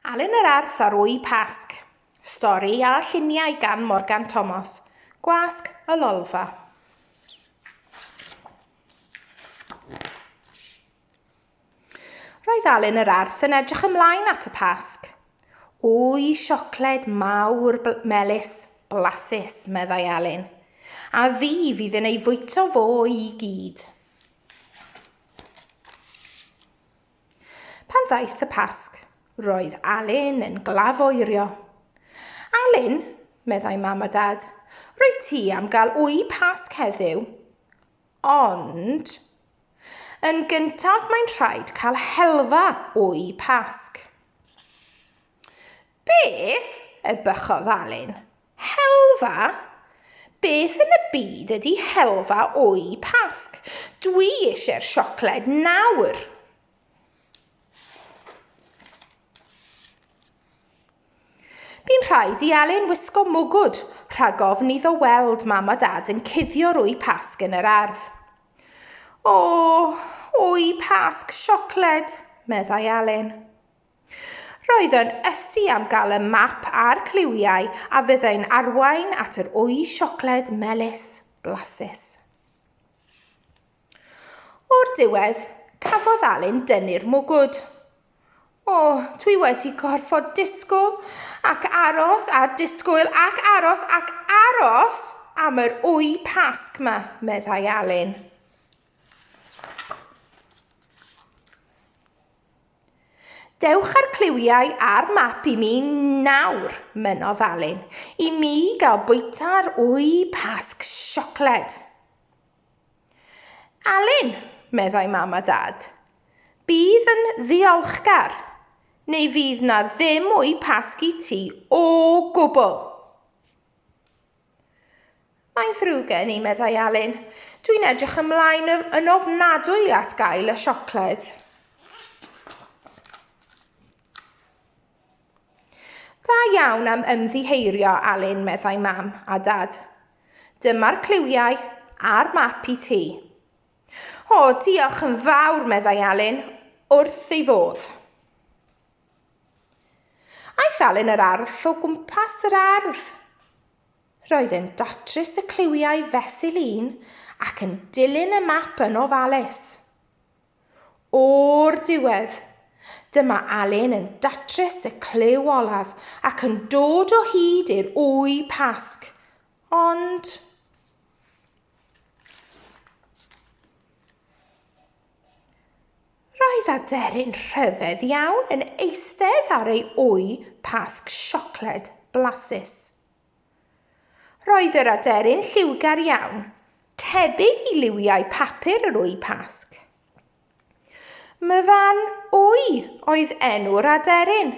Alun yr Arth ar Wy Pasg. Stori a lluniau gan Morgan Thomas. Gwasg y Lolfa. Roedd Alun yr Arth yn edrych ymlaen at y Pasg. Wy siocled mawr melys, blasus, meddai Alun. A fi fydd yn ei fwyto fo i gyd. Pan ddaeth y Pasg, roedd Alun yn glafoerio. Alun, meddai mam a dad, rwy ti am gael wy Pasg heddiw. Ond, yn gyntaf mae'n rhaid cael helfa wy Pasg. Beth? ebychodd Alun. Helfa? Beth yn y byd ydi helfa o'u Pasg? Dwi eisiau'r siocled nawr! Bu'n rhaid i Alun wisgo mwgwd rhag ofn iddo weld mam a dad yn cuddio'r wy Pasg yn yr ardd. O, wy Pasg siocled, meddai Alun. Roedd yn ysu am gael y map a'r cliwiau a fyddai'n arwain at yr wy siocled melys blasus. O'r diwedd, cafodd Alun dynnu'r mwgwd. O, dwi wedi gorfod disgwyl ac aros a disgwyl ac aros ac aros am yr wy pasg ma, meddai Alun. Dewch â'r cliwiau a'r map i mi nawr, mynnodd Alun, i mi gael bwyta ar wy Pasg siocled. Alun, meddai mam a dad, bydd yn ddiolchgar, neu fydd na ddim wy Pasg i ti o gwbl. Mae'n ddrwg gen i, meddai Alun. Dwi'n edrych ymlaen yn ofnadwy at gael y siocled. Da iawn am ymddiheirio, Alun, meddai mam a dad. Dyma'r cliwiau a'r map i ti. O, diolch yn fawr, meddai Alun, wrth ei fodd. Aeth Alun yr Arth o gwmpas yr ardd. Roedd e'n datrys y cliwiau fesul un ac yn dilyn y map yn ofalus. O'r diwedd, dyma Alun yn datrys y cliw olaf ac yn dod o hyd i'r wy pasg. Ond... Roedd aderyn rhyfedd iawn yn eistedd ar ei wy pasg siocled blasus. Roedd yr aderyn lliwgar iawn, tebyg i liwiau papur yr wy pasg. Myfan Wy oedd enw'r aderyn.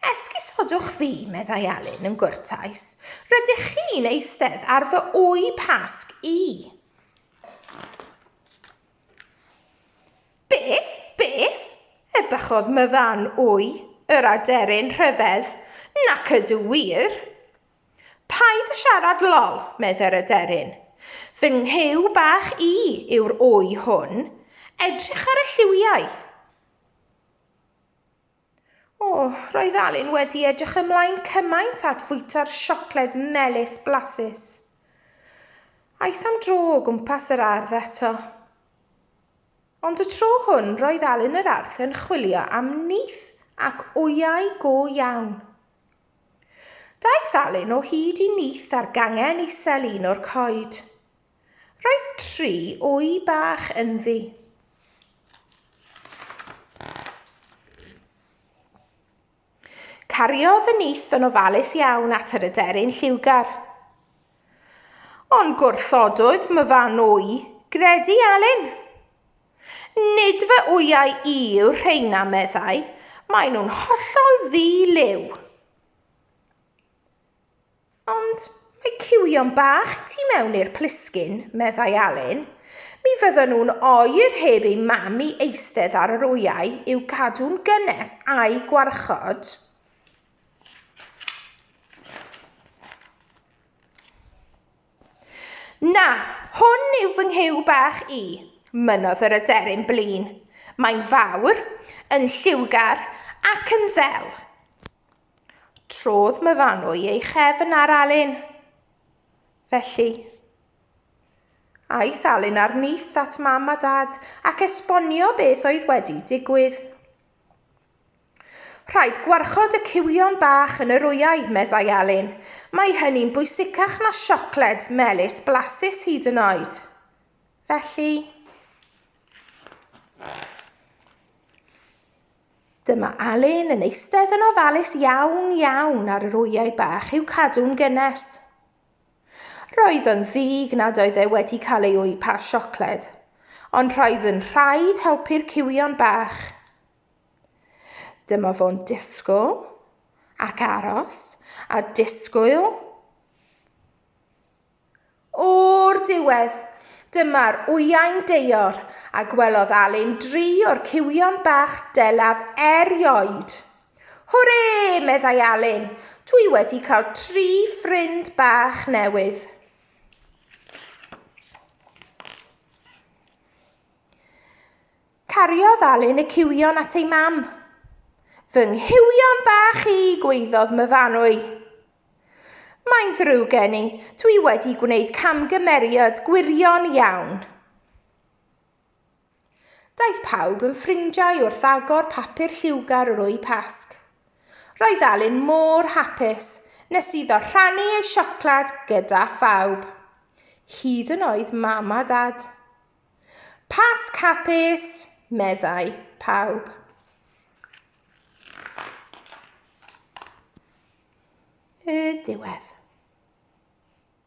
Esgusodwch fi, meddai Elin yn gwrtais. Rydych chi'n eistedd ar fy wy pasg i. Beth? Beth? Ebychodd myfan wy, yr aderyn rhyfedd. Nac ydw wir. Paid y siarad lol, medde'r aderyn. Fy nghyw bach i yw'r wy hwn. Edrych ar y lliwiau. O, roedd Alun wedi edrych ymlaen cymaint at fwyta'r siocled melys blasus. Aeth am dro o gwmpas yr ardd eto. Ond y tro hwn roedd Alun yr Arth yn chwilio am nith ac wyau go iawn. Daeth Alun o hyd i nith ar gangen isel un o'r coed. Roedd tri o'i bach ynddi. Cariodd y nith yn ofalus iawn at yr aderyn lliwgar. Ond gwrthododd myfan o'i gredu Alun. Nid fy wyau i yw'r rheina, meddai, maen nhw'n hollol ddi-liw. Ond mae ciwio'n bach i ti mewn i'r plisgyn, meddai Alun. Mi fyddan nhw'n oer heb ei mam i eistedd ar yr wyau i'w cadw'n gynnes a'i gwarchod. Na, hwn yw fy nghyw bach i, mynodd yr aderyn blin. Mae'n fawr, yn lliwgar ac yn ddel. Trodd Myfanwy ei chefn ar Alun. Felly, aeth Alun ar nyth at mam a dad ac esbonio beth oedd wedi digwydd. Rhaid gwarchod y cywion bach yn yr wyau, meddai Alun. Mae hynny'n bwysicach na siocled melys blasus hyd yn oed. Felly... Dyma Alun yn eistedd yn ofalus iawn iawn ar yr wyau bach i'w cadw'n gynnes. Roedd yn ddig nad oedd e wedi cael ei wy pa siocled, ond roedd yn rhaid helpu'r cywion bach. Dyma fo'n disgwyl ac aros a disgwyl O'r diwedd, dyma'r wyau'n deor, a gwelodd Alun dri o'r cywion bach delaf erioed. Hwrê! meddai Alun, dwi wedi cael tri ffrind bach newydd. Cariodd Alun y cywion at ei mam. Fy nghywion bach i, gweiddodd Myfanwy. Mae'n ddrwg gen i, dwi wedi gwneud camgymeriad gwirion iawn. Daeth pawb yn ffrindiau wrth agor papur lliwgar yr o'i Pasg. Roedd Alun mor hapus nes iddo rhannu ei siocled gyda phawb. Hyd yn oed mam a dad. Pasg hapus, meddai pawb. Y diwedd.